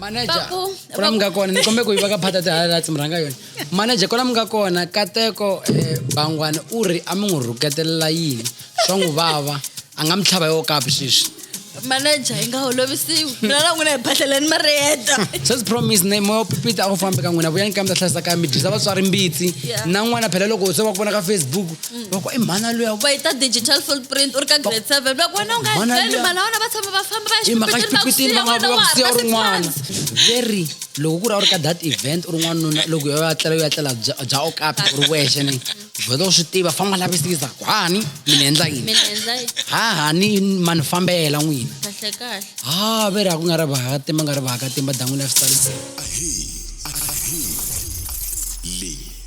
manager kula mi nga kona ni kombe ku yi va ka phata ti-highlights mi rhanga yona manager kula mi nga kona kateko um eh, bangwana u ri a mi n'wi rhuketelela yini swa n'wi vava a nga mi tlhava yo kapi sweswi manager yi nga holovisiwi mina na n'wina hi bahleleni ma ri heta sesi promise ne moya wa pipita a ku fambi ka n'wina vuyani ka mi ta hlayisa ka mi dyisa vatswari mbitsi na n'wana phela loko se va ku vona ka facebook va ku i mhana luya va yi ta digital footprint u ri ka grade seven va ku wena u nga Mhana tleli luya. mhana wena va tshama va famba va ya i mhaka xipikitini va nga va ku siya u ri n'wana very loko ku ri a wu ri ka that event u ri n'wanuna loko yo ya tlela yo ya tlela bya bya okapi u ri wexe ni vheta u swi tiva famba lavisisa ku hani mi ni endla yini mina endla yi ha hani ma ni fambela n'wina kahle kahle ha veri a ku nga ri vakatima nga ri vakatima dan'wini ya switalisa Ahee, ahee.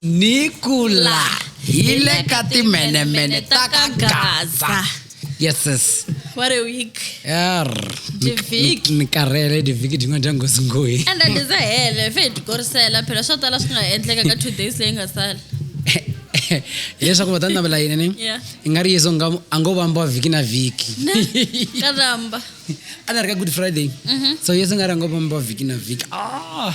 nikula hile ka timenemene ta ka gaza yeses what a week er divhiki ni karhele divhiki dyin'wana dya ngosi ngoyi enda ndiza hele fe hi tikorisela phela swo tala swi nga endleka ka two days leyi nga sala hileswaku va ta ni navela yini ni Yeah. i nga ri yesu nga a ngo vambiwa vhiki na vhiki ka ramba a ni ri ka good friday so yesu nga ri a ngo vambiwa vhiki na vhiki ah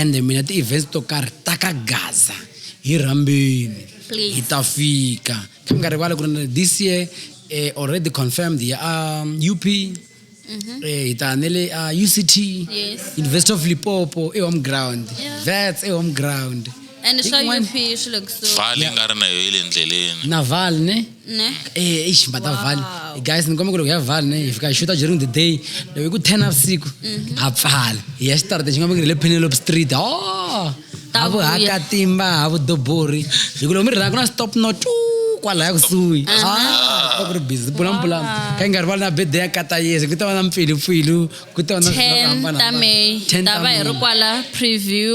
ende mina ti-events to karhi ta ka gaza hi rhambeni hi ta fika kha mi nga rivali ku ri this year eh, already confirmed ya um, up Mm-hmm. Eh, hi ta nele a uh, uct yes. university of lipopo ehome ground yeah. vats ehome ground and swa up swi le kusuhi nga ri na yo yi le ndleleni naval ne ne Eh, ish mbata vhale Wow. guys ni kombela ku loko ya vhale ne hi fika hi xuta during the day loko hi ku 10 navusiku ha pfala hi ya xitarata xi nga vekile le penelope street o Ta ha vuya. vuhakatimba ha vudobori hi ku loko mi ri laha ku na stop no tu kwalaya kusuhi Ah, ku ri busy pulampulamu ka yi nga rivali na bede ya kata yesi ku ta va na mpfilipfilu ku ta va na swilo swo 10 hambana- ta may 10 ta va hi ri May. kwala preview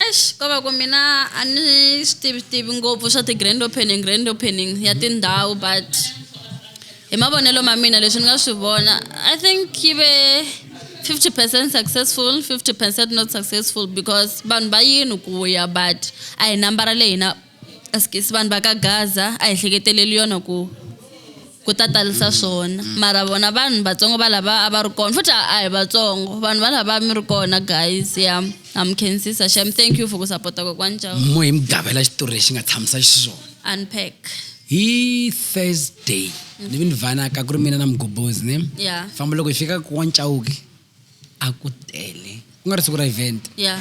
Eish, ko va ku mina a ni swi tivi tivi ngopfu swa ti-grand opening grand opening ya mhm. tindhawu but hi mavonelo ma mina leswi ni nga swi vona i think yi ve 50 percent successful 50 percent not successful because vanhu va yini ku ya but a hi nambara leyi na As ke si vanhu va ka Gaza a hi hleketeleli yona ku ku ta talisa swona mara vona vanhu vatsongo va lava a va ri kona futhi a hi vatsongo vanhu va lava mi ri kona guys ya ha mi khensisa shem thank you for ku sapota kokwani jawo mo hi mi gavela xitori lexi nga tshamisa xiswona unpack hi thursday ni vi ni vanaka ku ri mina na mugobhozi ne ya famba loko hi fika ka wa ncawuki a ku tele ku nga ri siku ra event ya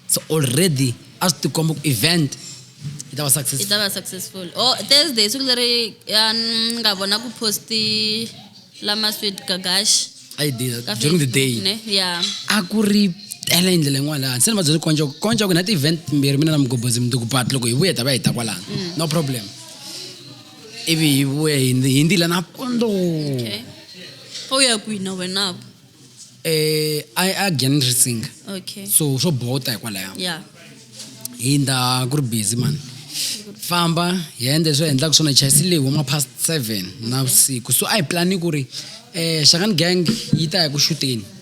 so already a swi tikomba ku event yi ta va yi successful ta va successful o thursday siku leri ya ni nga vona ku posti lama sweet gagash a yi did ka during the day Facebook, ne? ya a ku ri tele hi ndlela yin'wana laha hansi ni vabyele konja ku konja ku na ti-event mbirhi mina na mugobhozi mundzuku but loko hi vuya hi ta va hi ta kwalano no problem hivi hivi ya hindi hindi la napondo okay o ya kwihi na wena vo eh a a gyan ri singa okay so swo bota hikwalaya ya hinda ku ri busy mani famba hi endla leswi hi endlaka swona chayisi leyi huma past seven navusiku so a hi plani ku ri um xakani gang yi ta ya ku xuteni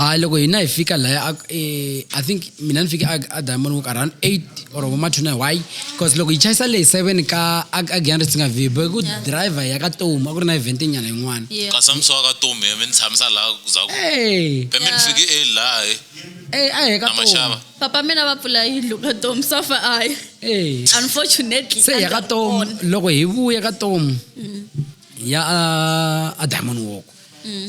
hayi loko hina hi fika laya eh, i think mina ni fike a diamond walk around eight or vomathuna why because loko yi chayisa leyi seven ka agianri si nga vi boy ku driver ya ka tomu a ku ri na event nyana yin'wana kasi a mi swa ka tomu mi ni tshamisa laha kuzaku pe mi ni fike e laha e a hi ka tomu papa mina va pfula yindlu ka tomu safa ayi unfortunately se ya ka tomu loko hi vuya ka tomu mm. ya a diamond walk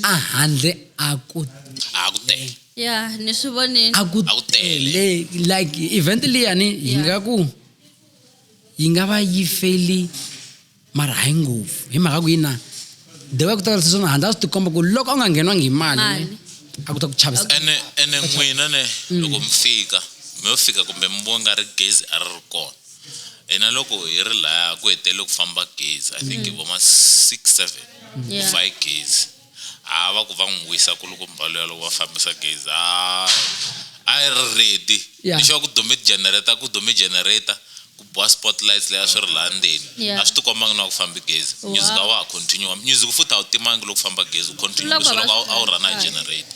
a handle a ku a ku tele ya ni swi vonile a ku tele like event liyani hi nga ku yi nga va yi feli mara hayi ngopfu hi mhaka ku yi na the way ku ta kalisa swona handle a swi tikomba ku loko a nga ngheniwangi hi mali a ku ta ku chavisa ene ene n'wina ne mm. loko mi fika mi yo fika kumbe mi vona nga ri gezi a ri ri kona hina loko hi ri laya ku hetele ku famba gezi i think mm. voma six seven ku fa hi gezi a va ku va n'wi wisa ku loko mbalo ya loko va fambisa gezi a a yi ri ready lexi va ku dume generator ku dume generator ku boha spotlights leya swi ri laha ndzeni a swi tikombangi na ku fambi gezi music a wa ha continue music futhi a wu timangi loko famba gezi u continue leswi loko a wu rana hi generator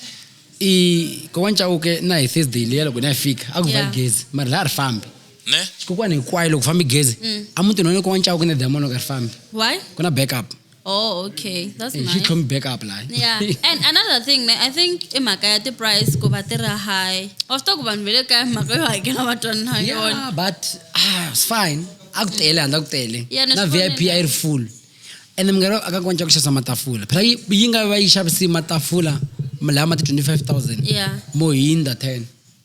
i kokwana chauke na hi thursday leya loko na ya fika a ku va gezi mara laha ri fambi ne xikokwani hinkwayo loko fambi gezi mm. a mutini wani ko wa ncawu ku na diamond u nga ri fambi ku na backup Oh, okay. That's eh, nice. He come back up like. Yeah. And another thing, ne, I think imhaka ya ti-price ku va ti ri high. Of talk vanhu ve le kaya mhaka yo hakela va twanana ha yona. Yeah, but ah, it's fine. A ku tele handla ku tele. Yeah, na VIP a yi ri full. And mngari aka kwanja ku xavisa matafula. Phela yi nga va yi xavisi matafula lama ti 25000. Yeah. Mo hinda 10.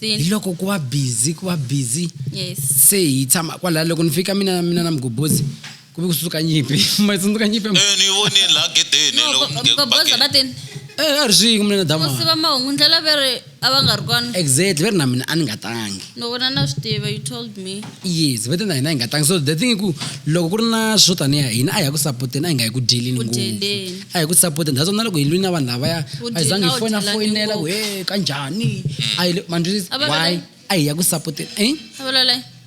Then- hi loko ku va busy ku va busy yes se hi tshama kwalaho loko ni fika mina mina na mgobozi ku ve ku tsundzuka nyimpi ma tsundzuka nyimpi ya- Eh, ni vonile laha gedeni No, loko go- nge- go- bakeni. boza va teni eh a ri swingi mina na dama musi va mahungu ndlela veri a va nga ri kona exactly ve ri na mina a ni nga tangi no vona na swi tiva you told me yes vete na hina hi nga tlangi so the thing i ku loko ku ri na swo tanihi hina a hi ya ku sapoteni a hi nga yi ku dyelini ngopfu a hi ku sapoteni that's na loko hi lwini na vanhu lavaya a hi zange hi fona foyinela ku he ka njhani a hi mandrisi why a hi ya ku sapoteni eh?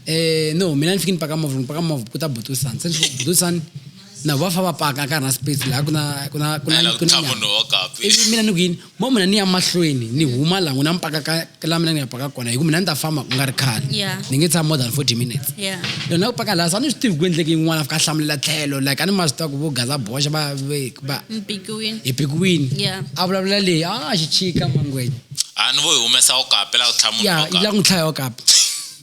eh no mina ni fike ni paka movha ni paka movha ku ta butusani se ni butusani na va fa va paka ka na space laha ku na ku na ku na ku na munhu wa kapi ivi mina ni ku yini mo mina ni ya mahlweni ni huma laha na mpaka ka la mina ni ya paka kona hi ku mina ni ta famba ku nga ri khale ni nge tshama more than 40 minutes lona ku paka laha sa ni swi tivi ku endleke yin'wana fika hlamulela tlhelo like a ni ma swi tiva ku vo gaza boxa va va hi pikiwini a vulavula leyi a ah, xichika mangwenya a ah, ni vo hi humesa okapi la ku tlhama ya la ku tlhaya okapi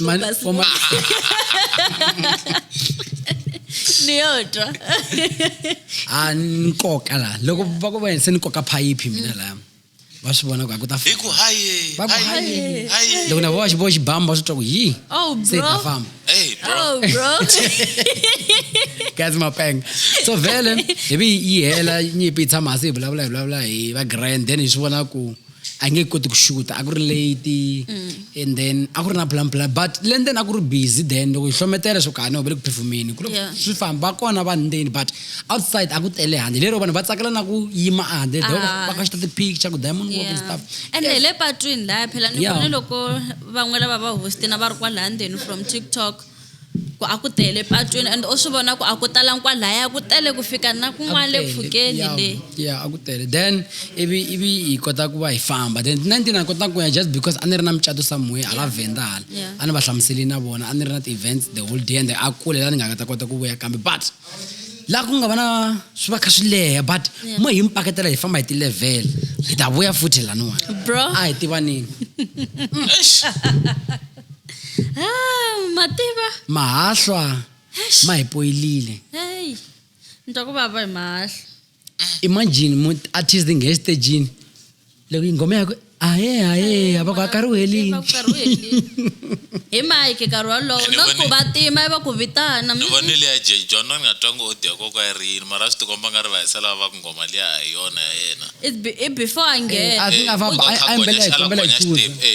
Man, Basi. for man, ni yo twa ah, ni nkoka la loko va ku va se ni koka phayiphi mina la va swi vona ku a ku ta hi ku haye Va ku, haye, "Haye." haye loko na vona xiboho xibamu va swi twa ku yi oh se hi ta bro famba hey bro oh bro guys mapeng so vele hi vi yi hela nyimpi yi tshama hasi hi vulavula hi vulavula hi va grand then hi swi vona ku a nge koti ku xuta a ku ri late mm. and then a ku ri na plan plan but le ndzeni a ku ri busy then loko yi hlometela swo kani uvele ku phefumini ku swi famba va kona vanhu ndzeni but outside a ku tele handle lero vanhu va tsakela na ku yima a handle ah. va ka xita ti-picture ku diamond walk and stuff ene hi le patwini laya phela ni vone loko van'we lava va hostina va ri kwalaya ndzeni from tiktok ku a ku tele patwini and u swi vona ku a ku talangi kwalaya ku tele ku fika na kun'wana le pfhukeni le ya a ku tele then ivi ivi hi kota ku va hi famba then nineteen a kota ku ya just because a ni ri na mucato somewhere hala venda hala a ni va hlamuseli na vona a ni ri na ti-events the whole day and a kule la ni nga nga ta kota ku vuya kambe but la ku nga va na swi va kha swi leha but mo hi mi paketela hi famba hi ti-level hi ta vuya futhi laniwani bro a hi tivanini ah, mativa mahahlwa ma hi poyilile heyi ni twa ku vava hi mahahla imagine mu artist nge estejini loko yi nghoma yaku ahe ahe avako akariwelini hi mike nkarhi wolowo no ku va tima i va ku vitana ni vone liya jejon ni nga twa ngo o dya koko ya ri yini mara swi tikomba nga ri va hisela va ku nghoma liya hi yona ya yena i before a nghena eh, a nga va a mbela hi kombela hi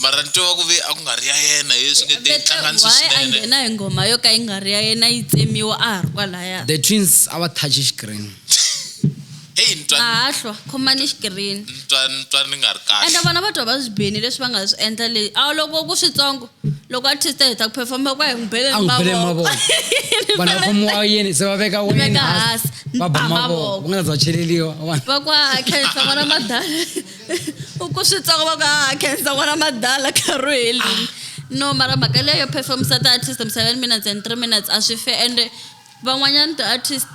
mara ni tiva ku ve a ku nga ri ya yena ye swi nge te Better hlanganisi why a swinene nghena hi ngoma yo ka yi nga ri ya yena yi tsemiwa a ha ri kwalaya the twins a va touch xikirini heyi ni twa mahahlwa khomani xikirini ni twa ni twa ni nga ri kahle ende vona va twa va swi bini leswi va nga swi endla leyi a loko ku switsongo loko artist a heta ku performa kwa hi n'wi bele a hi n'wi bele hi mavoko mavoko vanhu va khomiwa yini se va veka wayeni veka hansi, hansi va ba ba mavoko mavoko. ku nga za cheleliwa vanhu va kwa khenhla vona madala u ku swi tsaka va ku ha ah, khensa n'wana madala karhu helini ah. no mara mhaka leyo performisa ti-artist mi seven minutes and three minutes a swi fe ende van'wanyana ti-artist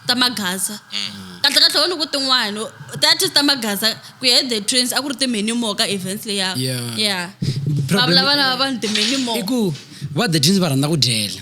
ta magaza mm. kahle kahle wona ku tin'wana ti-artist ta magaza ku ya the trains a ku ri timenu mo ka events leya ya va vulavana va vanhu timenu mo i ku va the trains va rhandza ku dyela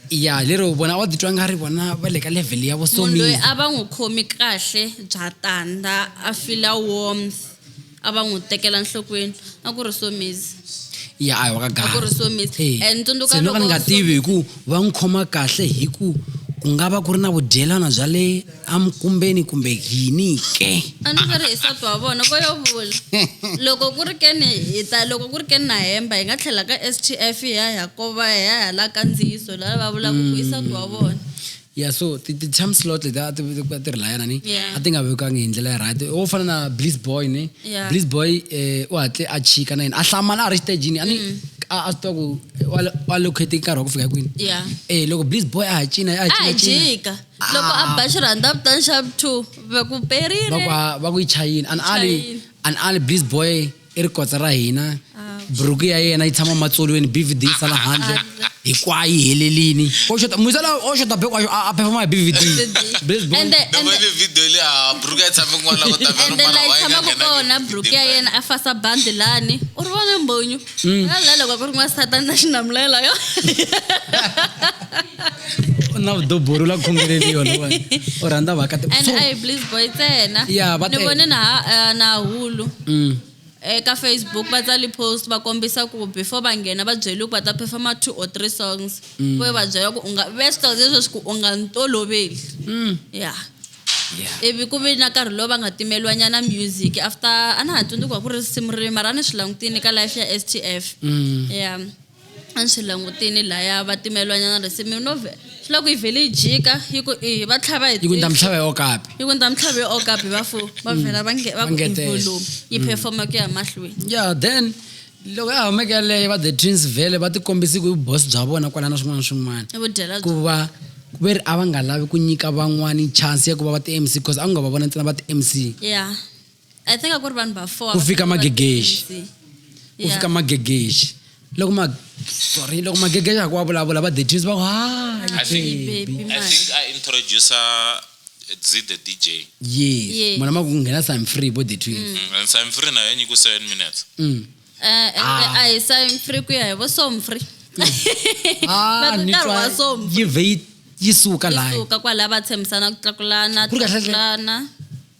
ya lero vona va titwa nga ri vona va le ka level ya munhu loyi a va n'wi khomi kahle bya tanda a fila warmth a va n'wi tekela nhlokweni a ku ri somizi ya a hi wa ka ri somizi and tsundzuka loko ni nga tivi hi ku va n'wi khoma kahle hi ku ku nga va ku ri na vudyelana bya le a mi kumbeni kumbe yini ke a ni swi ri hi sati wa vona vo yo vula loko ku ri ke ni hi ta loko ku ri ke ni na hemba hi nga tlhela ka s t f hi ya hi ya kova hi ya hi ya la kandziyiso la va vulaka ku i sati wa vona ya so ti- ti- ti-time slot leti a ti a ti ri layana ni Yeah. a ti nga vekiwangi hi ndlela ya right wo fana na bliss boy ni Yeah. bliss boy eh, u hatle a chika na yena a hlamala a ri xitejini a ni Mm. a a swi tiva ku wa- wa locate nkarhi wa ku fika kwini ya eh loko bliss boy a ha cina a ha a hi cina cina jika loko a ba xirhanda a vitana xa two va ku perile va ku yi chayini an ali an ali bliss boy i ri kotsa ra hina ah. buruku ya yena yi tshama matsolweni bvd yi sala handle hinkwayo yi helelini musala o xota beko a performa hi bvd ende la yi tshamaku kona buruku ya yena a fasa bandi lani u ri vona mbonyo Mm. la loko ku ri n'wasatani na xinamulela yo na vudobori la khongeleli yona u rhandza vakati and i believe boy tsena ya va ni vone na eh, na hulu mm. eka facebook va tsali post va kombisa ku before va nghena va byeli ku va ta performa two or three songs mm. ku va byela ku u nga ve swi leswi ku u nga ntoloveli mm. ya yeah. Yeah. ivi ku ve na nkarhi lowu va nga timeliwa nyana music after a na ha tsundzuki wa ku ri risimu ri mara a ni swi langutini ka life ya stf Mm. ya a ni swi langutini laya va timeliwa nyana risimu no ve- swi la ku yi vhele yi jika yi ku i va tlhava hi yi ku ndza tihlo. mitlhava yo kapi yi ku ndza mitlhava yo okapi va fo va vhela va nge- va ku Vangetela. volume yi performa ku ya mahlweni ya then loko ya humeke yaleyo va the twins vhele va tikombisi ku i vubosi bya vona kwala na swin'wana na swin'wana i vudyela ku va ku ve ri a va nga lavi ku nyika van'wani chance ya ku va va ti-mc because a ku nga va vona ntsena va ti-mc yeah i think a ku ri vanhu va four Ku va fika fanele va magegexi. tirhisi. ku Yeah. fika magegexi loko ma sorry loko magegexi a ku wa vulavula va the twins va ku I think, Baby, I man. think I introducer Dzi the DJ. Yes. Yeah. Mwana maku ngena sign free bo the twins. Mm. And sign free na yenyi ku 7 minutes. Mm. Eh, eh, ah. eh, I sign free ku ya bo som free. Mm. Ah, ni twa. Yi vei yi suka la. Yi suka kwa la ba tshemsana ku tlakulana. Ku ka tlakulana.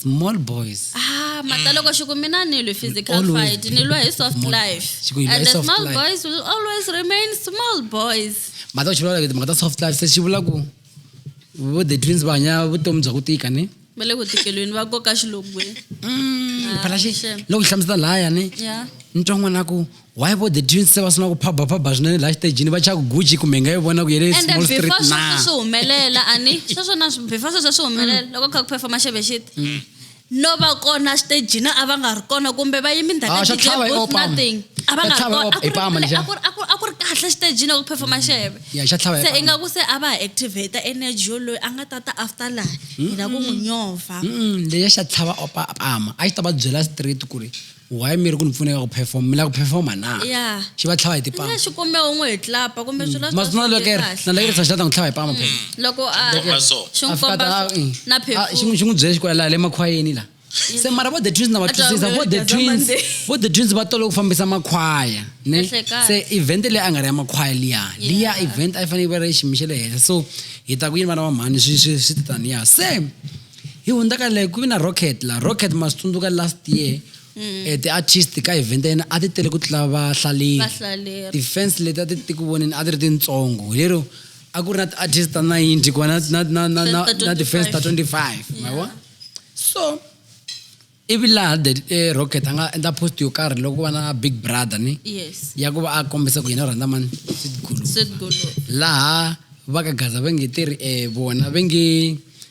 small boys ah mataloko xiku mina ni lwi physical Always fight ni lwa hi soft small boys. life Xiku hi lwa and hi the soft small life. boys will always remain small boys mhaka xi vulavula timhaka ta soft life se xi vula ku vo the twins va hanya vutomi bya ku tika ni va le ku tikelweni va koka xilogweni Mm, phela xi Ah, sure. loko xi hlamusela lahaya ni ya ni twa n'wana ku why bo the jeans se va suna ku phaba phaba swinene laha xitejini va chaka guji kumbe nga yi vona ku yele small street na sweswo swi humelela ani sweswo na before sweswo swi humelela mm. loko kha ku performa xeve xit mm. no va kona xitejini a va nga ri kona kumbe va yimi ndhawu nothing a va nga ri kona a ku ri kahle xitejini ku performa xeve se i nga ku se a va ha activate energy yo loyi a nga ta ta after laha hina ku n'wi nyova leya xa tlhava opama a xi ta va byela street ku ri why mi ri ku ni pfuneka ku perform mi la ku performa na ya xi va tlhava hi tipama nga xikumbe u n'wi hi tlapa kumbe swilo swa maswi na swi lekere kahle. na lekere sa xitata n'wi tlhava hi pama phela loko a Komba so. xi n'wi a fika komba ta so- mm. na a- xi phefula n'wi- xi n'wi byele xikwela laha le makhwayeni la se mara vo the twins na va A twa twisisa onge vo the Gaza twins Monday. vo the twins va tolo ku fambisa makhwaya ne Kahle kahle. se event leyi a nga ri ya makhwaya liya liya event a yi fanele yi va ri xiyimo xa le henhla so hi ta ku yini vana va mhani swi swi swi titaniya se hi hundza ka leyi ku vi na rocket la rocket ma swi tsundzuka last year mm. eh, ti-artist ka event ya yena a ti tele ku tlula vahlaleri ti-fans leti a ti ti ku voneni a ti ri tintsongo hi lero a ku ri na ti-artist ta ninety ku va na ti-fans ta twenty five ma vona so ivi laha the e rocket a nga endla post yo karhi loko va na big brother ni yes ya ku va a kombisa ku yena u rhandza mani sweetgulu sweet golo laha va ka gaza va nge tirhi um vona va nge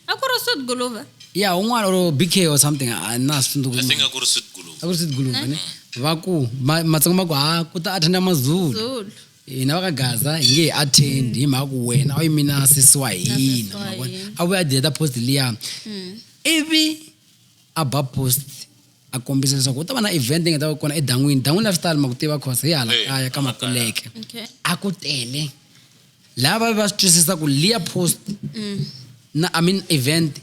a ku ri sweet golova ya un'wana or bk or something a na swi tsundzuki i think a ku ri sweet gulu a ku ri sweetguluva ni va ku ma- matsongo ma ku ha ku ta attenda mazulu zulu hina va ka gaza hi nge hi attend hi mhaka ku wena a wu yimi na sesi wa hina sesi wa ma vona? hina. a vuya a deleta post liya ivi aba post a kombisa leswaku u ta va na event yi nga ta va kona edan'wini dan'wini la swi tali ma ku tiva cause hi hala Hey, kaya ka hala kaya. makuleke Okay. a ku tele lava va swi twisisa ku liya post na i mean event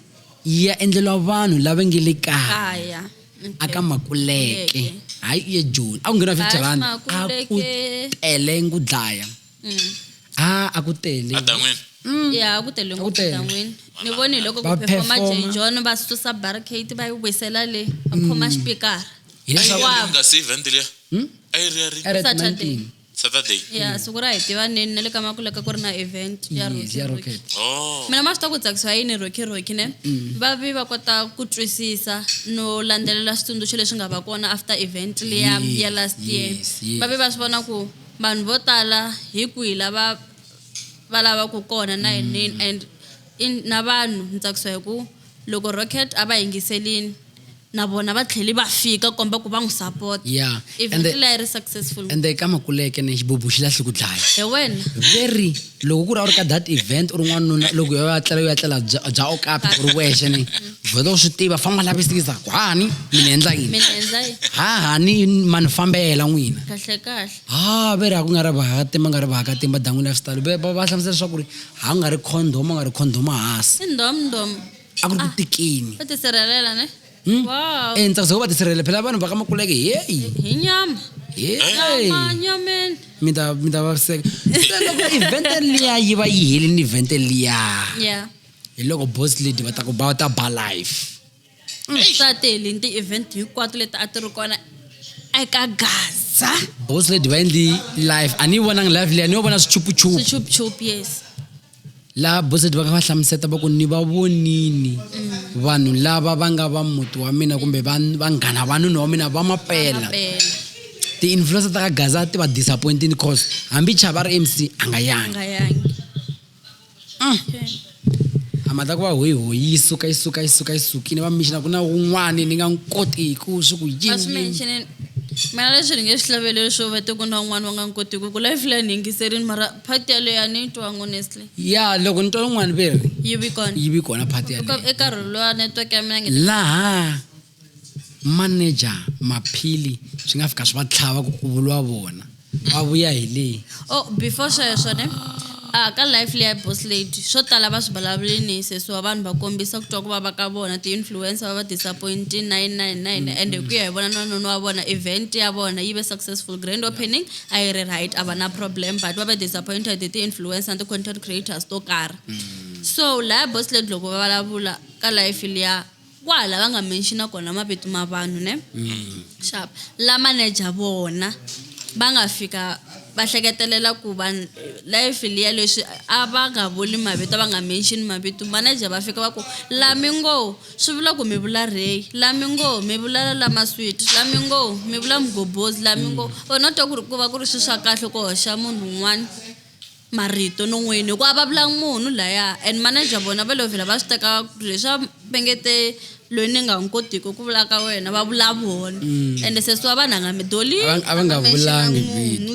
yi ya endleliwa vanhu lava nge le kaya kaya Okay. aka makuleke Kuleke. hayi u ye joni a ku nghena fifty Hayi, rand a ku Makuleke. tele ngu dlaya a a ku tele adan'wini ya ku tele ngopfu tele. dan'wini ni voni hi loko Ba ku performa performa. jenjhon va susa barricade va yi wisela le va khoma xipikara hileswaku Wow. nga si event liya Hmm? a yi ri ya ri a ri at Saturday. Manting. saturday ya siku ra hi tiva neni na le ka makulaka ku ri na event ya Yes, Rocky ya Rocky. rocket oh mina ma swi ta ku tsakisiwa yini rocky rocky ne va vi va kota ku twisisa no landzelela switsundzuxo leswi nga va kona after event liya Yes, ya last year yes, yes. va vi va swi vona ku vanhu vo tala hi kwihi lava va lavaku kona na yinini mm. and in, na vanhu ni tsakisiwa hi ku loko rocket a va yingiselini na vona va tlheli va fika komba ku va n'wi support yeah. eventleyi ri successful ende ka makuleke ni xibubu xi lahli ku dlaya hi wena very loko ku ri a ri ka that event u ri n'wanuna loko yo ya tlela yo ya tlela bya okapi u ri wexe ni vheta u swi tiva famba u lavisisa ku hani mi ni endla yini ha hani ma ni fambela n'wina ha ve ri ha ku nga ri vahakatimba nga ri vahakatimba dan'wini ya xitalo va va hlamusela leswaku ri ha nga ri condom a nga ri condom hansi a ku ri ku ah, tikini Hmm? Wow. Eh, ndza kuzoba tisirhelele phela vanhu va ka makuleke heyi hi nyama nyama nyameni mi ta mi ta vaviseka se loko event liya yi va yi helini event liya yeah hi loko boss lady va ta ku ba ta ba life mm, swa tele ni ti-event hinkwato leti a ti ri kona eka gaza boss lady va endli life a ni yi vonangi life liya ni yo vona swichupuchupu swichupuchupu yes laha boseti va ka va hlamuseta va ku ni va vonini mm. vanhu lava va nga va muti wa mina kumbe vanghana va nuna wa mina va mapela ti-influencer ta ka gaza ti va disappointini cause hambi chava ri mc a nga yangi mm. a mata ku va hoyi hoyi yi suka yi suka yi suka yi sukini va mixina ku na wun'wani ni nga n'wi koti ku swi ku yini mana leswi ri nge swi hlaveleli swo va te ku na wun'wani va nga n'wi koti ku ku life line yingiserini mara Party yaleyo a ni yi twangi honestly. ya loko ni twa lungwani ve ri Yi vi kona. yi vi kona party Eka yaleyo eka rhulu lowa network ya mina nge laha manager maphili swi nga fika swi va tlhava ku ku vuriwa vona va vuya hi leyi Oh, before sweswo ne a ka life leya boss lady swo tala va swi vulavule ni sesiwa vanhu va kombisa ku twa ku vava ka vona ti-influencer va va disappoint 999 ende ku ya hi vona na noni wa vona event ya vona yi ve successful grand opening a yi ri right a va na problem but va ve disappointed hi ti-influence na ti-content creators to karhi mm. so laya boss lady loko va vulavula ka life liya kwaha lava nga menxina kona mavito ma vanhu ne mm. xap la manager vona va nga fika va hleketelela ku va life liya leswi a va nga vuli mavito va nga menxini mavito manager va fika va ku la mi ngo Swi vula ku mi vula Ray, la mi ngo mi vula la la Maswiti, la mi ngo mi vula Mgobozi, la mi ngo or no twa ku ri ku va ku ri swi swa kahle ku hoxa munhu un'wana marito non'wini hikuva a va vulanga munhu laya and manager vona va lo vhela va swi teka ku ri leswa va nge te loyi ni nga n'wi kotiki ku vula ka wena va vula vona ende sesi wa vanhu a nga mi doli a va nga vulangi vito.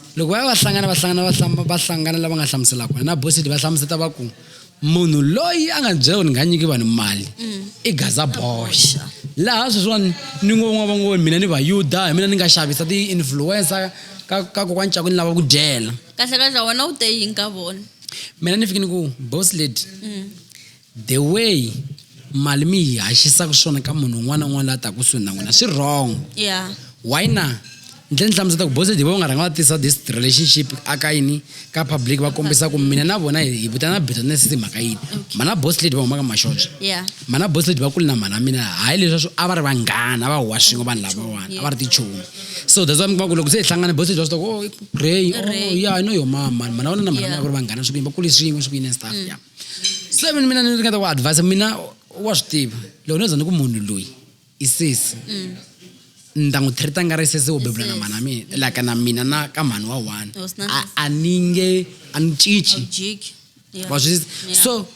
loko va ya va hlangana va hlangana va hlamba va hlangana lava nga hlamuselaka wena bosidi va hlamuseta va ku munhu loyi a nga byela ku ni nga nyiki vanhu mali mm. i gaza boxa laha sweswiwani ni ngo van'wana va ngo mina ni vayuda hi mina ni nga xavisa ti-influencer ka ka kokwani cako ni lava ku dyela kahlekahle wena u te yini ka vona mina ni fike ni ku boss lady mm. The way mali mi yi haxisaka swona ka munhu un'wana na un'wana la ta kusuhi na n'wina swi wrong yeah why na ndle ni hlamuseta ku bosedi va nga rhanga va tisa this relationship aka yini ka public va kombisa ku mina na vona hi vitana bitterness hi mhaka yini mana boss lady va humaka mashonja yeah mana boss lady va kule na mana mina hayi leswi a va ri vanghana va huwa swin'we vanhu lavawani a va ri tichomi so that's why mi kuma ku loko se hi hlangane boss lady va swi tiva ku oh Ray oh yeah I know your mama mana vona na mana mina ku ri vanghana swi ku yini va kule swin'we swi ku yini and stuff yeah se mina mina ni ringeta ku advise mina wa swi tiva loko no za ni ku munhu loyi i sesi mm. ni ta n'wi treata nga ri sesi wo bebula na mhana mina like na mina na ka mhani wa one a ni nge a ni cinci wa swi so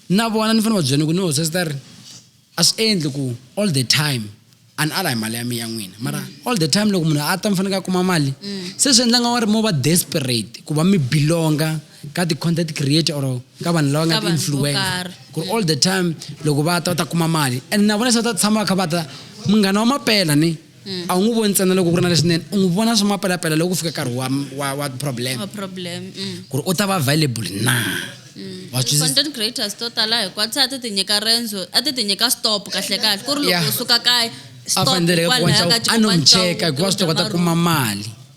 na vona ni fanele va byela ni ku no sesi ta ri a swi endli ku all the time a ni ala hi mali ya mi ya n'wina mara mm. all the time loko munhu a ta mi fanekele a kuma mali mm. se swi endla nga wa ri mo va desperate ku va mi belonga ka ti-content creator or ka vanhu lava nga ti-influencer ku ri all the time loko va ta va ta kuma mali and na vona se va ta tshama va kha va ta munghana wa mapela ni mm. a wu n'wi voni ntsena loko ku ri na leswinene u n'wi vona swa mapelapela loko ku fika nkarhi wa wa wa problem mm. ku ri u ta va available na mm. content creators to tala hikwati se a ti ti nyika rendzo a ti ti nyika stop kahle kahle ku ri loko u suka kaya a faneleke ku a no n'wi cheka hikuva swi ta kota kuma mali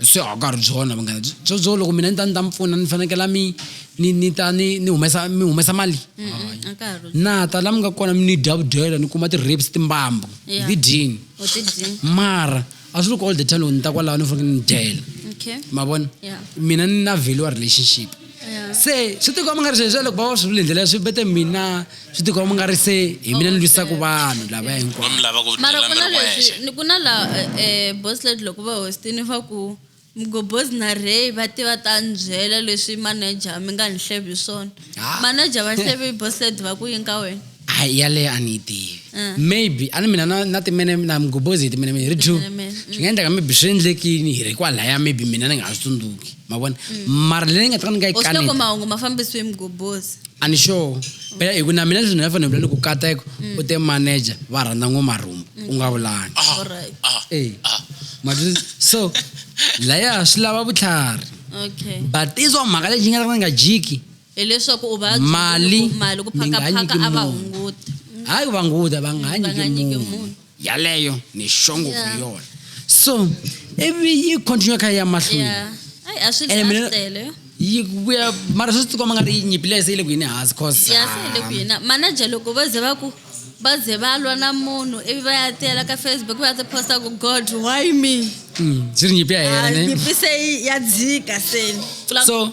swi a ka ha ri byona vanghana byo byo loko mina ni ta ni ta mi pfuna ni fanekela mi ni ni ta ni ni humesa mi humesa mali mm-hmm. a ka ha ri na ta la mi nga kona mi ni dya vudyela ni kuma ti-rapes timbambu ti dyini mara a swi loko all the time loko ni ta kwalaho ni fanekele ni dyela ma vona mina ni na value wa relationship se swi tikomba nga ri sweswi loko va va swi vule ndlela swi bete mina swi tikomba nga ri se hi mina ni lwisaka vanhu lava hinkwaomara ku na leswi ku na la eh, boslet loko va hostini va ku mgobos na rey va tiva ta ndzhela leswi manager mi nga ni hlevi swona manager va hlevi boslet va ku yini ka wena a yaleyo a ni yi tivi ah. maybe a ni mina na na timene na mgobozeti mina mi ri two mm. swi nga endleka maybe swi endlekini hi ri kwalaya maybe mina ni nga ha swi tsundzuki ma vona mm. mara leyi ni nga ta ni nga yi kaniloko mahungu ma fambisiwe mgobozi a ni sure phela hi ku na mina leswi ni nga fanele vula ni ku kata ku mm. u te manager va rhandza ngo marhumbu u nga vulani ah, ah, e so laya swi lava vutlhari but izwa mhaka lexi nga ta ni nga jiki hileswaku u va mali mali ku phakaphaka a va hunguti mm. hayi ku va hunguta va nga mm, nyiki munhu yaleyo ni xongo ku yona so ivi yi continue kha ya mahlweni ene mina yi vuya mara swi tikomba nga ri yi nyipile se yi le ku yini hansi cause ya se yi le ku yini manager loko va ze va ku va ze va lwa na munhu ivi va ya tela ka facebook va tiposta ku god why me mm, swi ri nyipi ya yena ah, nyipi se ya dzika seni so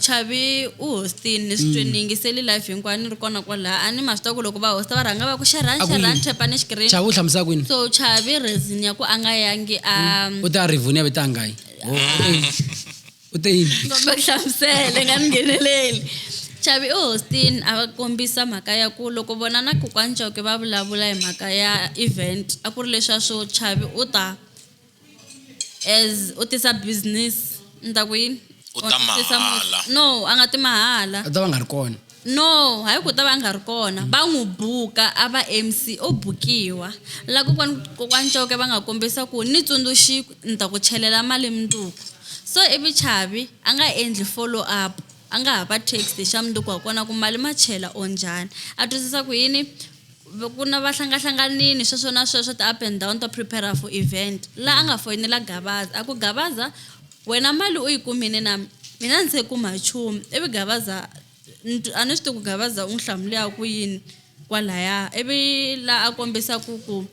Chavi u hostini ni swi ni yingiseli live hinkwayo ni ri kona kwalaha a ni ma swi tiva ku loko va hosta va rhanga va ku xerhani A ku xerhani yini? tap-ani Chavi xikirini u hlamusela kwini so chavi reason ya ku a nga yangi a u te a rivoni ya ve ta ngayi u te yini komba ku hlamusele nga ni ngheneleli chavi u hostini a va kombisa mhaka ya ku loko vona na kokwani chauke va vulavula hi mhaka ya event a ku ri leswiya swo chavi u ta as u tisa business ni ta ku yini u ta mahala no a nga ti mahala a ta va nga ri kona no hayi ku ta va nga ri kona va n'wi buka a va mc o bukiwa la kokwani kokwani coke va nga kombisa ku ni tsundzuxi ni ta ku chelela mali mundzuku so ivi chavi a nga endli follow up a nga ha va text hi xa mundzuku wa kona ku mali ma chela or njhani a twisisa ku yini ku na va hlangahlanganini sweswo na sweswo ti-up and down to prepare for event laha a nga foyinela gabaza a ku gabaza wena mali u yi kumini na mina ndzi se kuma nchumu ivi gabaza a ni swi tivi ku gabaza u n'wi hlamulaka ku yini kwalaya ivi laha a kombisa ku ku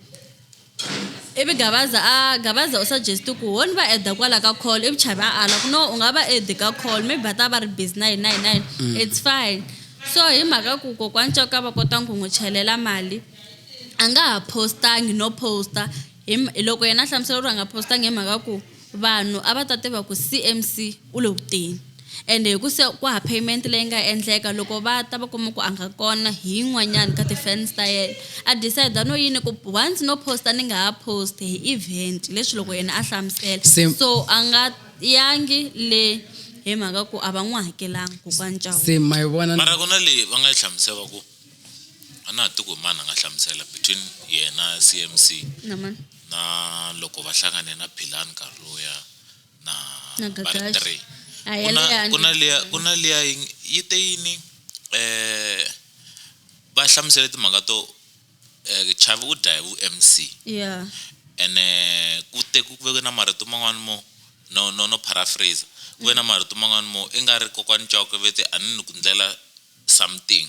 Ivi Gavaza a Gavaza u suggest ku honi va add kwala ka call ivi Chavi a ala ku no u nga va add ka call maybe va ta va ri busy na hina hina hina it's fine so hi mhaka ku kokwani Coka va kota ku n'wi chelela mali a nga ha post-angi no post-a hi loko yena a hlamusela ku ri a nga post-angi hi mhaka ku Vanhu a va ta tiva ku CMC u le ku teni ende hi ku se ku hava payment leyi nga endleka, loko va ta va kuma ku a nga kona hi yin'wanyani ka ti-fans ta yena. A decide no yini ku once no post-a ni nga ha post-i hi event leswi loko yena a hlamusela. Se. So a nga yangi le hi mhaka ku a va n'wi hakelanga kokwani Chauke. Se ma yi vona. Mara ku na leyi va nga yi hlamusela va ku. a na ha tivi ku hi mani a nga hlamusela between yena CMC na mani na loko va hlangane na Philani nkarhi lowuya na na Gagashi ku na liya ku na liya yi te yini eh va hlamusele timhaka to eh chavi u dya hi vu MC yeah ene ku te ku veke na marito man'wana mo no no no paraphrase ku ve na marito man'wana mo i nga ri kokwani Chauke ve te a ni ni ku ndlela something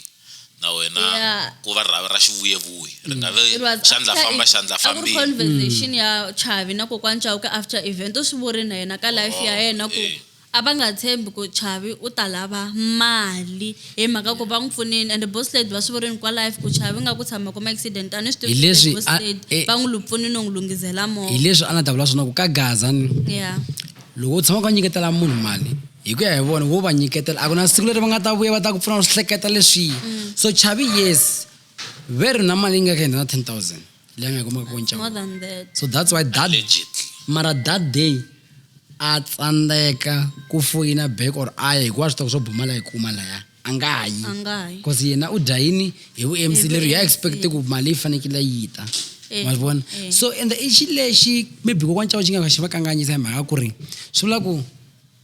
na wena yeah. ku va rhavi ra xivuyevuye ri nga ve xandla famba xandla fambile conversation ya chavi na kokwana chauke after event u swi vuri na yena ka life ya oh, yena ku eh. a va nga tshembi ku chavi u ta lava mali hi mhaka ku va n'wi pfunini and boss lady va swi vurini kwa life ku chavi nga ku tshama kuma accident a ni swi tivi boss lady eh. va n'wi lupfunini u n'wi lunghizela movha hi leswi a nga ta vula swona ku ka gaza ni yeah Loko u tshama u kha u nyiketela munhu mali hi ku ya hi vona wo va nyiketela a ku na siku leri va nga ta vuya va ta ku pfuna u swi hleketa leswiya mm. so chavi yes ve ri na mali yi nga ka hindza na ten thousand leyi nga yi kumaka ko ncawo so that's why that mara that day a tsandzeka ku foyina back or a ya hikuva swi tiva ku swo bumala yi kuma laya a nga ha yi A nga ha yi. cause yena u dya yini hi vumc Hi leri ya VMC. expect ku mali yi fanekele yi ta Eh, ma vona eh. so and i xi lexi maybe kokwana cava xi nga xi va kanganyisa hi mhaka ku ri swi vula ku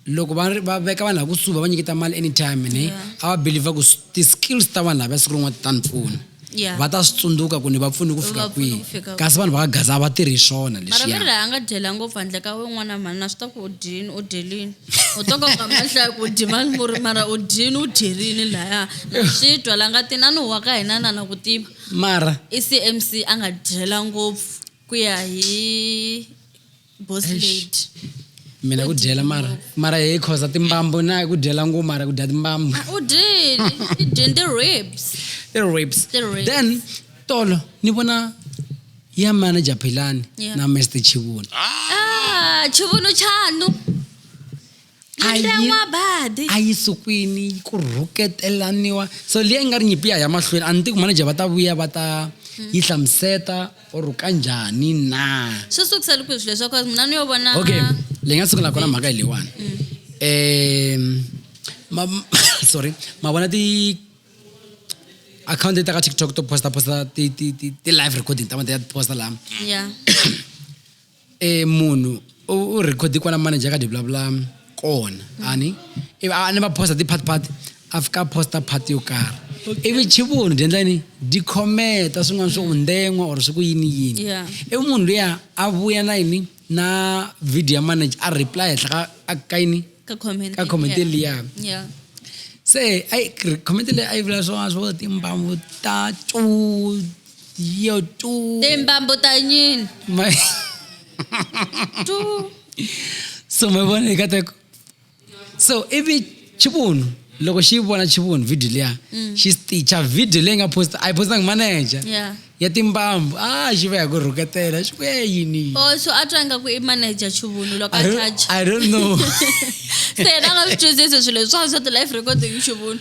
loko va ri- va veka vanhu lakusuhi va va nyiketa mali anytime ne a va believer ku s- ti-skills ta vanhu lava siku rin'wana ti ta ni pfuna Yeah. va ta swi tsundzuka ku ni va pfuni ku fika Va pfune kwihi ku fika kasi vanhu va ka gaza a va tirhi hi swona mara leswiya veri a nga dyela ngopfu handle ka we n'wana mhani na swi ta ku u dyini u dyelini u to ka ka mahlaya ku u dyi mali murhi mara u dyini u dyerini laya na swi twa la nga ti na ni huwa ka hina na na ku tiva mara i cmc a nga dyela ngopfu ku ya hi boss Eish. lady mina ku dyela mara mara hi khoza timbambu na ku dyela nguu mara ku dya timbambu Ah, u dyile i dyini ti-ribs ti-ribs Ti-ribs. then tolo ni vona ya manager philani Yeah. na mr chivuni ah chivunu chanu a yi Nxan'wabadi. a yi sukwini yi ku rhuketelaniwa so liya yi nga ri nyimpi ya ya mahlweni a ni tiku manager va ta vuya va ta yi hlamuseta or kanjhani na swi sukisa loko swilo leswaku mina ni yo vona okay leyi nga sungula kona mhaka hi leyiwani um ma sorry ma vona ti account leti ta ka tiktok to posta posta ti ti ti ti live recording ta ma ti ya ti posta laha ya e munhu u record kwana manager ka di vulavula kona ani ivi a ni va posta ti-part part a fika a posta part yo karhi ivi chivunhu byi endla yini di khometa swin'wana swo unden'wa or swi ku yini yini Yeah. ivi munhu luya a vuya na yini na video ya manager a reply henhla ka- a ka yini ka comment ka comment yeah. liya yeah se ayi comment leyi a yi vula swona swo timbambu ta cu Yo tú. Timbambo tañil. Tú. so mi vona hi kateko so ivi chivunhu loko xi vona chivunhu video liya mm. xi sticha video leyi nga posta a yi postangi manager yeah. ya timbambu a ah, xi va ya ku rhuketela xi vuya yini oh, so a twa ingaku i manager chuvunhu loko a touch i don't know se yena nga swi twisisi swilo swa swa ti-life recording chuvunhu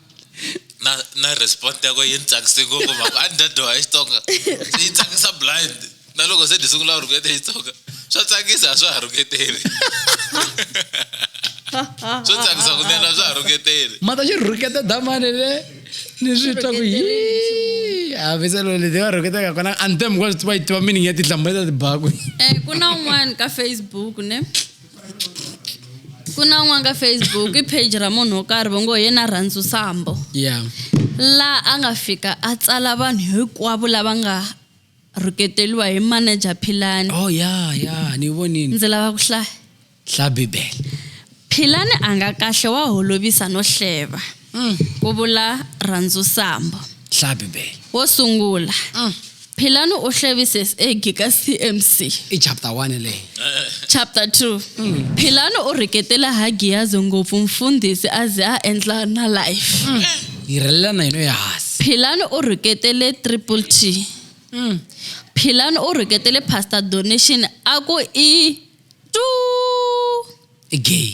na na respond yako yi ni tsakise ngopfu mhaka a ni ta dyoha xitsonga se yi tsakisa blind na loko se ni sungula ku rhuketa xitsonga swa tsakisa a swa ha rhuketeli swo tsakisa kunene a swa ha rhuketeli mata xi rhuketa damane le ni swi twa ku yi hambiselo leti va rhuketaka kona andem kwa swi tiva yi tiva meaning ya tinhlamulo ta tibaku um ku na un'wana ka facebook ne ku na n'wana ka facebook i page ra munhu wo karhi va ngo hi yena rhandzu sambo yeah la a nga fika a tsala vanhu hinkwavo lava nga rhuketeriwa hi manager philani oh yeah yeah ni vonini ndzi lava ku hlaya hla bibele philani a nga kahle wa holovisa no hleva Mm. Ku vula Rhandzu Sambo. Hlaya Bibele. Wo sungula. Mm. Philani u hlevise eggi ka CMC. I chapter 1 leyi. Chapter 2. Mm. Philani u rheketela ha Giyazi ngopfu mfundhisi a ze a endla na life. Mm. Yi rhelela na yona ehansi. Philani u rheketele triple T. Mm. Philani u rheketele pastor donation a ku i tu. I gay.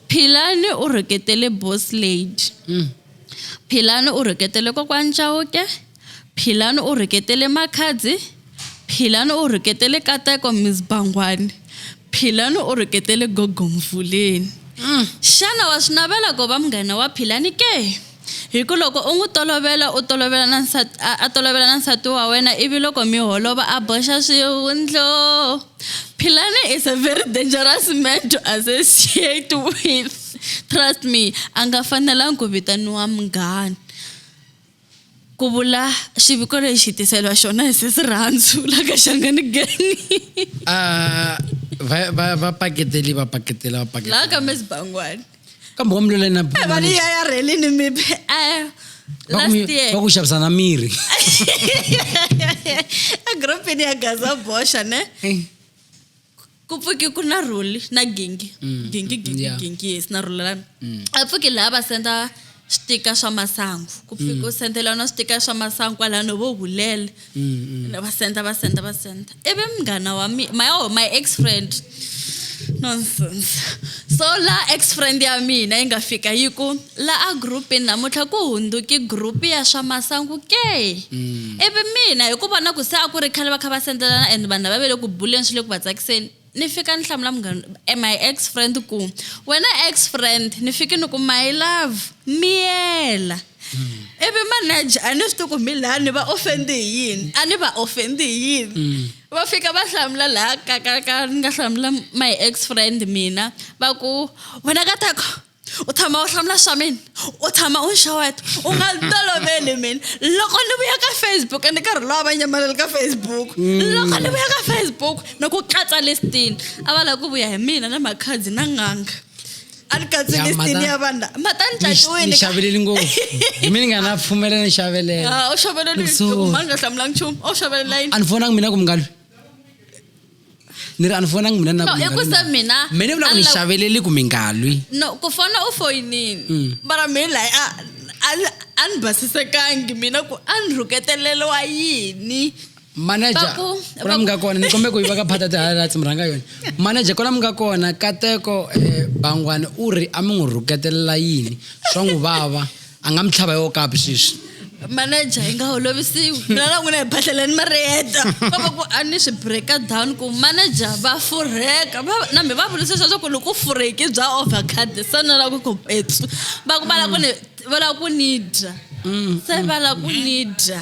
Philani u rhuketele boss lady. Philani u rhuketele kokwani Chauke. Philani u rhuketele Makhadzi. Philani u rhuketele Kateko Miss Bangwani. Philani u rhuketele Gogo Mvuleni. Xana wa swi navela ku va munghana wa Philani ke? Hi ku loko u n'wi tolovela, u tolovela na nsati, a, a tolovela na nsati wa wena, ivi loko mi holova a boxa swihundlo. Philane is a very dangerous man to associate with. Trust me, a nga fanelangi ku vitaniwa munghana. Ku vula xiviko lexi hi tiseriwa xona hi sesi Rhandzu la ka Shangani Gang. Ah, va va va paketeli va paketela va paketela. La ka Miss Bangwani. kambe wa mulwela na eh, mali ya ya rhelini maybe eh, last year va ku xavisana miri egrouphini ya gaza boxa ne eh. ku pfuki ku na ruli na gingi mm, gingi mm, gingi gingi yes na rulelana mm. a pfuki laha va senda switika swa masangu ku pfi ku mm. sendela na switika swa masangu kwalano vo hulele mm, mm. va senda va senda va senda ivi munghana wa mi my, oh, my ex friend nonsense so la ex friend ya mina yi nga fika yi ku la a groupini namuntlha ku hundzuki group ya swa masangu ke ivi mina hi ku vona ku se a ku ri khale va kha va sendelana and vanhu lava ve le ku buleni swi le ku va tsakiseni ni fika ni hlamula munghana eh, my ex friend ku wena ex friend ni fike ni ku my love miyela mm. ivi manager a ni swi tiku mi laha ni va ofendi hi yini a ni va ofendi hi yini mm. va fika va hlamula laha kakaka ni nga hlamula my ex friend mina va ku wena ka tako u tshama u hlamula swa mina u tshama u nxeweta u nga toloveli mina loko ni vuya ka facebook ni karhi lowa va nyamaleli ka facebook mm. loko ni vuya ka facebook ni ku katsa listini a va lava ku vuya hi mina na makhadzi na nganga a ni katsi listini ya vanhu mata ni tlakiwini xaveleli ngopfu hi mina ni nga na pfumelela ni xavelela ah, u xavelela ni nga hlamulanga nchumu u xavelela yini a ni fonanga mina ku mi nga lwi ni ri a ni fonangi mina ni na ku mi nga lwi na. mina me ni vula ku ni xaveleli ku mi nga lwi no ku fona u foyinini mm. mara mi layi a ni basisekangi mina ku a ni rhuketeleliwa yini manager kona mi nga kona ni kombe ku yi va ka phata ti-highlights mi rhanga yona manager kona mi nga kona kateko um bangwani u ri a mi n'wi rhuketelela yini swa n'wi vava a nga mi tlhava yo kapi sweswi manager hi nga holovisiwi mina na n'wina hi bahleleni mariyeta va va ku a ni swi breaka down ku manager va furheka na mi va vutisa leswaku loko u furheki bya overcard se ni lava ku ku petsu va ku va lava ku ni va lava ku ni dya mm, se va lava ku mm. ni dya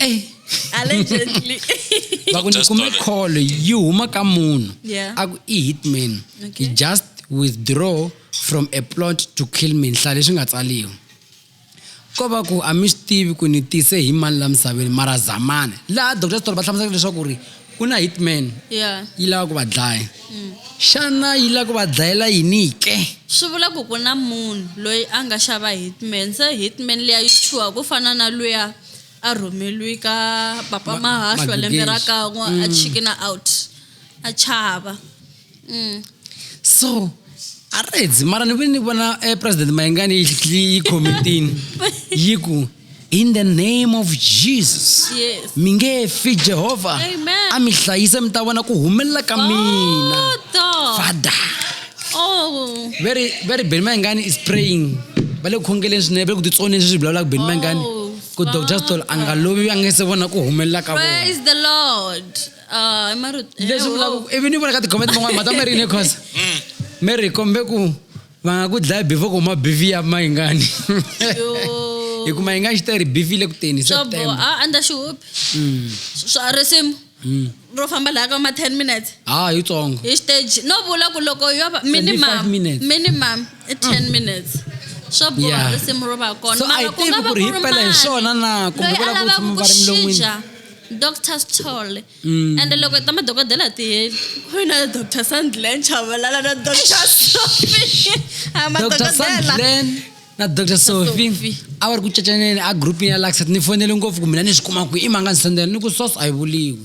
Eh. allegedly va ku ni Just kume toilet. call yi huma ka munhu Yeah. a ku i hitman Okay. he just withdraw from a plot to kill me nhla leswi nga tsaliwa ko va ku a mi swi tivi ku ni tise hi mani la misaveni mara zamani laha doctor story va hlamusela leswaku ri ku na hitman yeah. yi lava ku va dlaya mm. xana yi lava ku va dlayela yini ke swi vula ku ku na munhu loyi a nga xava hitman se hitman leya yi chuha ku fana na luya a rhumeliwi ka papa mahahlo lembe ra kan'we a mm. chikina out a chava mm. so aredzi mara ni vile ni vona eh, president mayengani yi khomitini yi ku in the name of jesus yes. mi nge fi jehovha a mi hlayise mi ta vona ku humelela ka oh, mina fada oh. very very beni mayengani is praying va le ku khongeleni swinene va le ku titsoneni sweswi vulavulaka beni mayengani oh, ku dr stol a nga lovi a nge se vona ku humelela ka vona Ah, i mari leswi vulaka ku ivi ni vona ka tikhomenti man'wana mhata mi ri yini cause mi ri kombe ku va nga ku dlaya bifi ku huma bifi ya mayingani hi ku mayingani xi ta ri bifi le ku teni swa boha september a andza xihupi swa risimu ro famba laha ka ma 10 minutes ha yitsongo hi stage no vula ku loko yo va 25 minimum minutes. minimum i 10 minutes swa boha Yeah. risimu ro va kona so a hi mara ku nga tivi va ku ri hi ku ri pela hi mani swona na kumbe loyi a va lava lavaka ku tshama ku va ri milon'wini xija doctor sithole mm. and loko ta madokodela a ti heli wena doctor sandlan chavalala na doctor sophie a madokodela na dr sofi a va ri ku cacaneni a groupini ya laxat ni fonele ngopfu ku mina ni swi kuma ku i manga ni sendela ni ku sos a yi vuliwi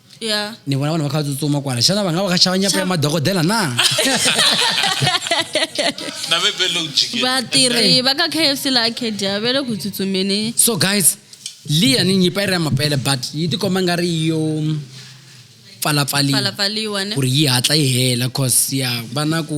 yeah. ni vona vanhu va kha tsutsuma kwala xana va nga va kha xava nyapa ya madokodela na vatirhi va ka kfc la acadia va le ku tsutsumeni so guys liya ni nyipa yi ri ya mapele but yi tikomba nga ri yo pfalapfaliwa ku ri yi hatla yi hela cause ya va na ku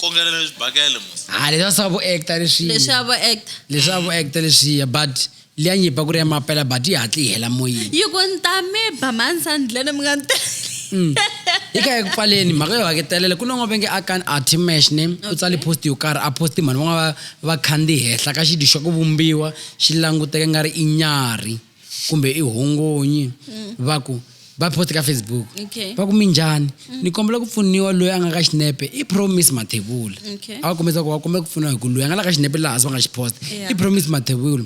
kongela leswi bakele mos ha leswa swa vo actor leswi leswi a vo actor leswi a vo actor leswiya but liya nyipa ku ri ya mapela but yi hatli yi hela moyeni yi ku ni ta mi ba mansandlene mi nga ni Mm. yi kha eku pfaleni mhaka yo haketelela ku non'wa venge a kan a timash ne u tsale post yo karhi a posti mhani van'wana va va khandzihi henhla ka xidyi xa ku vumbiwa xi languteke nga ri i nyarhi kumbe i hongonyi mm. va ku va post ka facebook okay. va ku minjhani mm. ni kombela ku pfuniwa loyi a nga ka xinepe i promise mathevula okay. a va kombisa ku va kombela ku pfuniwa hi ku loyi a nga la ka xinepe laha se va nga xi post yeah. i promise mathevula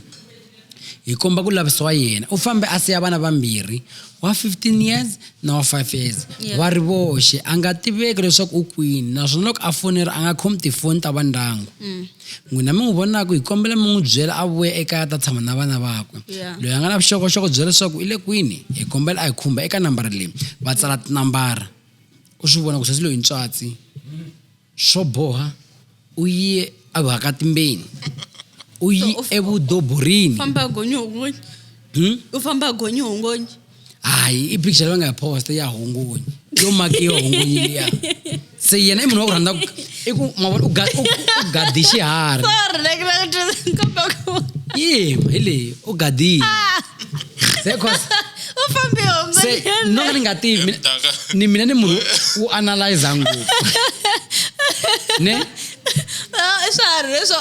hi komba ku lavisiwa yena u fambe a siya vana vambirhi wa 15 years na wa 5 years yeah. va ri voxe a nga tiveki leswaku u kwini naswona loko a fonera a nga khomi tifoni ta vandyangu mm. N'wina mi n'wi vonaku, hi kombela mi n'wi byela a vuya ekaya a ta tshama na vana vakwe. Yeah. Loyi a nga na vuxokoxoko bya leswaku i le kwini, hi kombela a hi khumba eka nambara leyi. Va tsala tinambara. U swi vona ku sesi loyi i ntswatsi. Swo boha, u ye eVuhakatimbeni. U yi So, u- eVudoborini. famba a gonyi hongonyi Hmm? u famba a gonyi hongonyi hayi ipicture leyi va nga yi posta ya hungunyi yo maki yo hungunyi liya se yena i munhu wa ku rhandza i ku mavona u gadi xiharhi yima hi leyi u gadile ah. se cause se no ka ni nga tivi ni mina ni munhu u analyza ngopfu ne ah, swiharhi leswo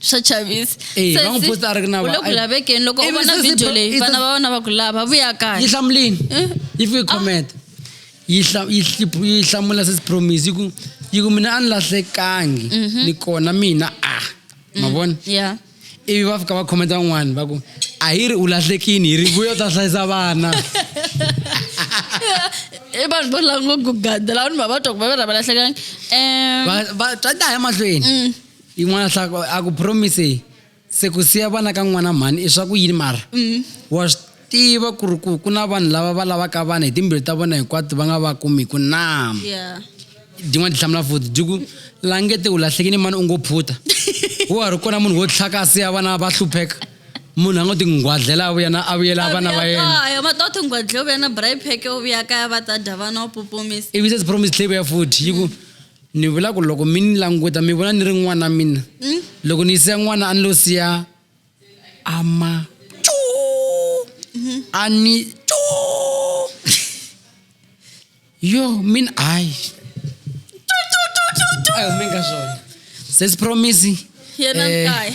swa chavisa Eh, va n'wi posta a ri ku na va- ku lavekeni loko u Ivi vona se- se- video leyi i- vana va vona va ku lava vuya yi kaya hlamulini Eh? yi fike comment yi hla- yi hlip- yi hlamula sesi promise yi ku yi ku mina a ni lahlekangi ni kona mina a ma vona ya ivi va fika va khometa van'wani va ku a hi ri u lahlekini hi ri vuyo ta hlayisa vana i vanhu vo lava ngo ku gadela vanhu va va twa ku va va ra va lahlekangi um Va- va- ta ta ya mahlweni yin'wana hlako a ku promise se ku siya vana ka n'wana mhani i swa ku yini mara mm. wa swi tiva ku ri ku ku na vanhu lava va lavaka vana hi timbilu ta vona hinkwato va nga va kumiku na din'wana ti hlamula futi di ku langete u lahlekini mani u ngo phuta wo ha ri kona munhu wo tlhaka a siya vana va hlupheka munhu a ngo tinghwadlela a vuyana a vuyela vana va yena va to tinghwadlela u vuyana bripheke u vuya kaya va ta dya vana u pupumisa ivi se promise tlhe vuya futhi yi ku mm. ni vula ku loko mi ni languta mi vona ni ri n'wana mina hmm? loko ni siya n'wana a ni lo siya ama hmm. a ni yo mina hayi mi nga swona sesi promise yena eh, mkaya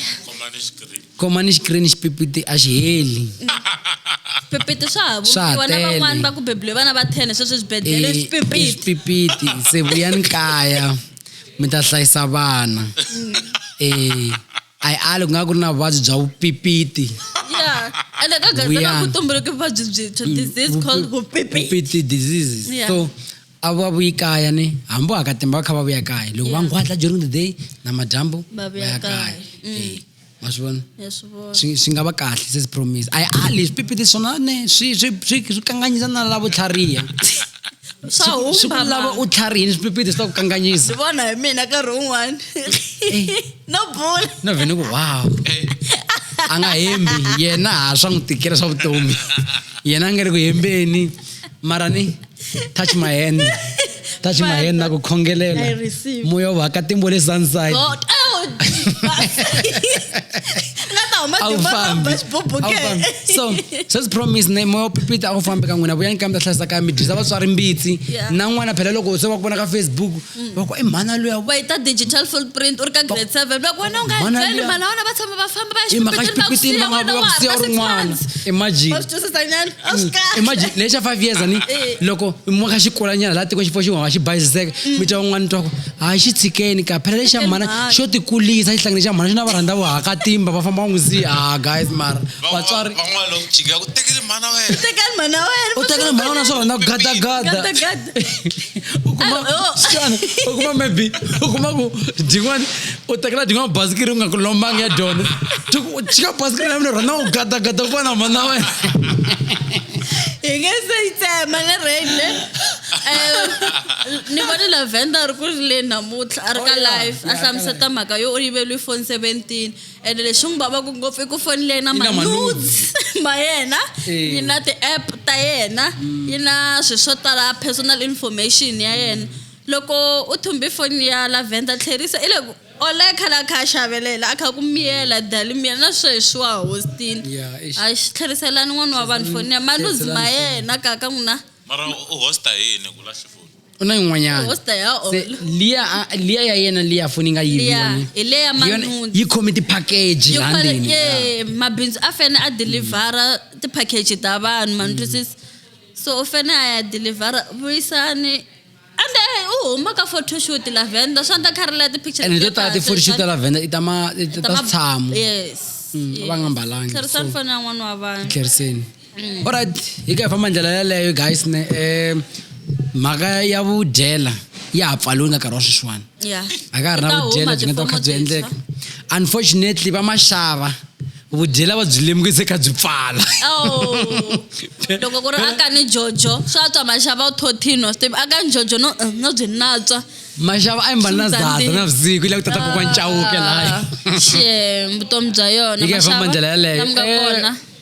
khoma ni xikirini xipipiti a xi heli swipipiti swa ha Swa ha vumbiwa na tele. van'wani va ku bebuliwe vana va 10 sweswi swibedhlele Eh, swipipiti swipipiti se vuyani kaya mi ta hlayisa vana eh a yi ali ku nga ku ri na vuvabyi bya vupipiti ya ende ka gaza Vuya. va ku tumbuluke vuvabyi byintshwa disease called vupipiti vupipiti diseases Yeah. so a va vuyi kaya ni hambi wa ka timba va kha va vuya kaya loko va nghwatla during the day na madyambu Ba vuya kaya. Mm. Eh, ma swi vona swi swi nga va kahle se swi promise a yi ali swipipiti swona ne swi swi swi swi kanganyisa na lavo tlhariha swa huma swi ku lava u tlharihini swipipiti swi ta ku kanganyisa swi vona hi mina nkarhi wun'wani eh. no bula no vhene ku wow eh. a nga hembi yena ha swa n'wi tikela swa vutomi yena a nga ri ku hembeni mara ni touch my hand touch my hand na ku khongelela I receive. moya wa ka timbo le sunside God, oh, nga ta huma a wu timba ta fambi ba xiboboke. A wu fambi. so sweswi promise ne moya wa pipita a wu fambi ka n'wina vuyani kambe ta hlayisa kaya mi dyisa vatswari mbitsi Yeah. na n'wana phela loko se va ku vona ka facebook mm. va ku i mhana luya va yi ta digital footprint u ri ka grade seven va ku wena u nga byeli mhana wena va tshama va famba va ya xipikitini va ku siya rin'wana imagine va swi twisisa nyana a swi mm. kahle imagine lexa five years ani eh. loko mo ka xikulanyana laha tiko xifo xin'wana xi bayiziseka mm. mi twa un'wana twa ku hayi xi tshikeni ka phela lexa mhana xo tikulisa xihlangene xa mhana xi na va rhandza vuhaka timba va famba va n'wi siya ah guys mara vatswari van'wana loko jika ku tekele mhana wena tekele mhana wena u tekele mhana wena swo rhandza ku gadagada ukuma xana ukuma maybe ukuma ku jin'wani u tekela jin'wana basikiri u nga ku lombanga ya dyondzo chika basikiri ya mina rhona u gadagada ku vona mhana wena hi nge se yi tsema le rende ni vone lavenda a ri ku ri le namuntlha a ri ka oh, life a hlamuseta mhaka yo u yiveliwi foni seventeen ende leswi n'wi vavaka ngopfu i ku foni leyi na manudes ma yena yi na ti-app ta yena mm. yi na swilo swo tala personal information ya yena loko u thumbe foni ya lavender tlherisa i le ku ole khala kha xavelela a kha ku miyela dali miyela na sweswi wa hostini a xi tlheriselani n'wana wa vanhu foni ya manudes ma yena kaka n'wina mara u hosta yini ku lahli foni u na yin'wanyana What's the hell? Se, liya a- liya ya yena liya foni yi nga yivi Liya, yone. hi leya Hi yona- manhundzu. yi khome tipakeji Yo la kwale- ndzeni ye mabindzu a fane a delivhara tipackage ta vanhu ma ni twisisa so u fane a ya delivhara vuyisani ande u huma ka photoshoot la venda swa ndla kha ri la ti-picture ene to tala kahle, tifoni swa- xita la venda i ta ma- i ta ta ma- tshamo yes Mm, a va nga mbalanga, tlherisani so- foni ya n'wana wa vanhu tlheriseni orit hi ka hi famba ndlela yaleyo guys ne um mhaka ya vudyela ya ha pfaliwe nga nkarhi wa sweswiwani a ka ha ri na vudyela byi nga ta kha byi endleka unfortunately va maxava vudyela va byi lemukise kha byi pfala oh. loko ku ri aka ni jojo swa twa maxava u thothino swi tivi aka ni jojo no eh, no byi natswa maxava a yi mbali na zata navusiku la ku tata kokwa ncawuke laya ah, vutomi bya yona yi ka hi famba ndlela yaleyo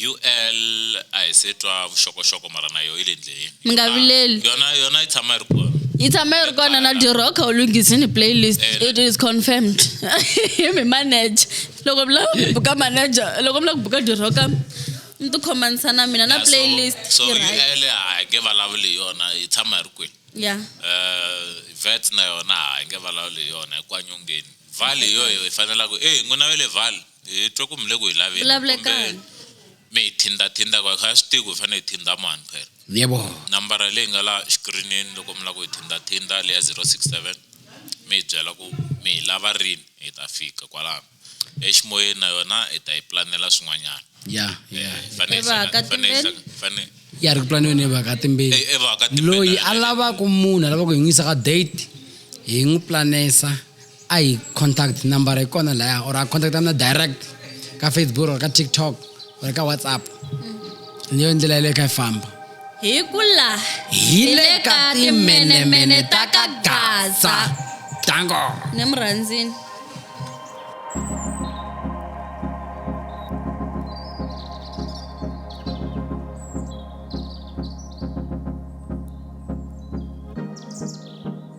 UL a hi se twa vuxokoxoko mara na yo yi le ndleleni. Mi nga vileli. Ah, yona yona yi tshama yi ri kona. yi tshama yi ri kona na diroka u lunghizini playlist Eh, it is confirmed hi mi manager loko mi lava ku buka manager loko mi lava ku buka diroka mi tikhomanisa na mina na Yeah, so- playlist so yi right. UL a hi nge vulavuli hi yona yi tshama yi ri kwini yeah Eh, vet na yona a hi nge vulavuli hi yona hi kwanyongeni vale hi yoyo hi fanelaka e n'wina ve le vale hi twa ku mi le ku hi laveni vulavulekani mi hi thinda thinda ku kha swi tivi ku hi fanele hi thinda mani phela yebo nambara leyi nga la xikirinini loko mi lava ku hi thinda thinda leya 067 mi hi byela ku mi hi lava rini hi ta fika kwalano eximoyeni na yona hi ta yi planela swin'wanyana ya ya eh, fanele ya ri ku planiweni hi vaka timbeni loyi a lavaka munhu a lava ku hi n'wi yisa ka date hi n'wi planesa a hi contact number yi kona laya or a contact na direct ka facebook or ka tiktok or ka whatsapp mm. ni yo ndlela yeleyo ka yi famba hi ku la hi le ka timenemene ta ka gaza dango ni mu rhandzini